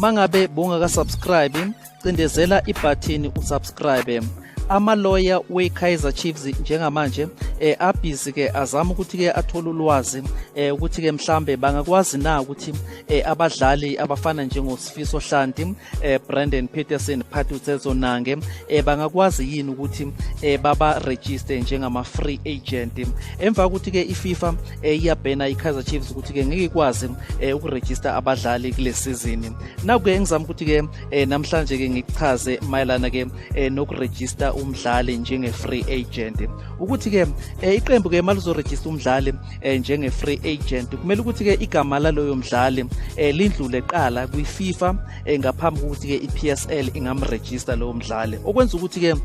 mangabe bungaka subscribe cindezela ibhathini usubscribe amaloya we-kaizer chiefs njengamanje eh abhizi ke azama ukuthi ke athole ulwazi eh ukuthi ke mhlambe bangakwazi na ukuthi eh, abadlali abafana njengosifiso hlanti eh, brandon peterson phatutsezo nange eh, bangakwazi yini ukuthi eh, babarejiste njengama-free agent emva kokuthi-ke ififa eh, iyabhena i-kaizer chiefs ukuthi-ke ngeke ikwazi eh, ukurejista abadlali kule sizini naku-ke engizama ukuthi-ke eh, namhlanje-ke ngikuchaze mayelana-ke eh, nokurejista umdlali njenge-free agent ukuthi-ke eh, iqembu-ke maluzorejista umdlali eh, njenge-free agent kumele ukuthi-ke igama laloyo mdlali eh, lindlule qala kwi-fifa eh, ngaphambi kokuthi-ke i-p s l ingamrejista lowo mdlali okwenza ukuthi-ke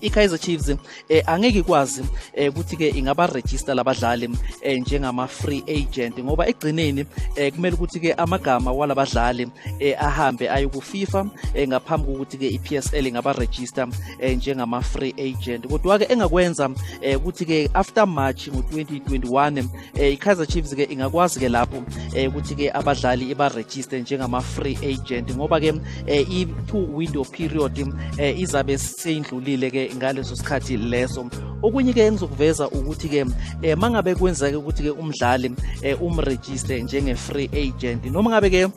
i-kaizer chiefs eh, angeke ikwazi eh, ukuthi-ke ingabarejista labadlali eh, njengama-free agent ngoba ekugcineni eh, kumele ukuthi-ke amagama walabadlali eh, ahambe aye ku-fifa eh, ngaphambi kokuthi-ke i-psl ingabarejista eh, njengama-free agent kodwa-ke engakwenza eh, ukuthi-ke after march ngo-2021 eh, i-kaizer chiefs ke ingakwazi ke lapho eh, ukuthi ke abadlali ibarejiste njengama-free agent ngoba ke eh, i-two window period eh, izabe seyindlulile ke ngaleso sikhathi leso okunye ke engizokuveza ukuthi ke eh, mangabe kwenzeke ukuthi ke umdlali eh, umrejiste njenge-free agent noma ngabe ke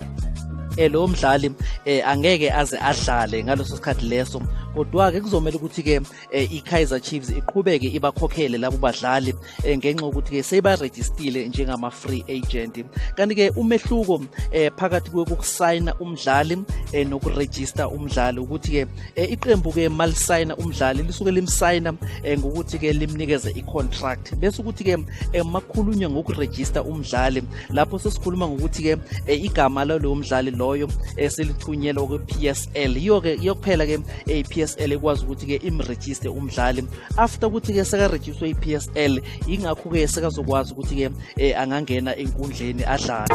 eh, lowo mdlali eh, angeke aze adlale ngaleso sikhathi leso kodwa-ke kuzomele ukuthi-ke eh, i-kaizer chiefs iqhubeke ibakhokhele labo badlali eh, ngenxa yokuthi-ke seyibarejistile njengama-free agent kanti-ke umehluko eh, phakathi kokusayina umdlali eh, nokurejista umdlali ukuthi-ke eh, iqembu-ke malisayina umdlali lisuke limsayina eh, ngokuthi-ke limnikeze i-contract bese ukuthi-ke eh, makhulunywa ngokurejista umdlali lapho sesikhuluma ngokuthi-ke eh, igama lalowo mdlali loyo eh, selithunyelwa kwi-p s l yiyo-ke yiyo kuphela-ke i-psl ekwazi ukuthi-ke imrejiste umdlali after ukuthi-ke sekarejistwe i-psl yingakho-ke sekazokwazi ukuthi-ke um angangena enkundleni adlale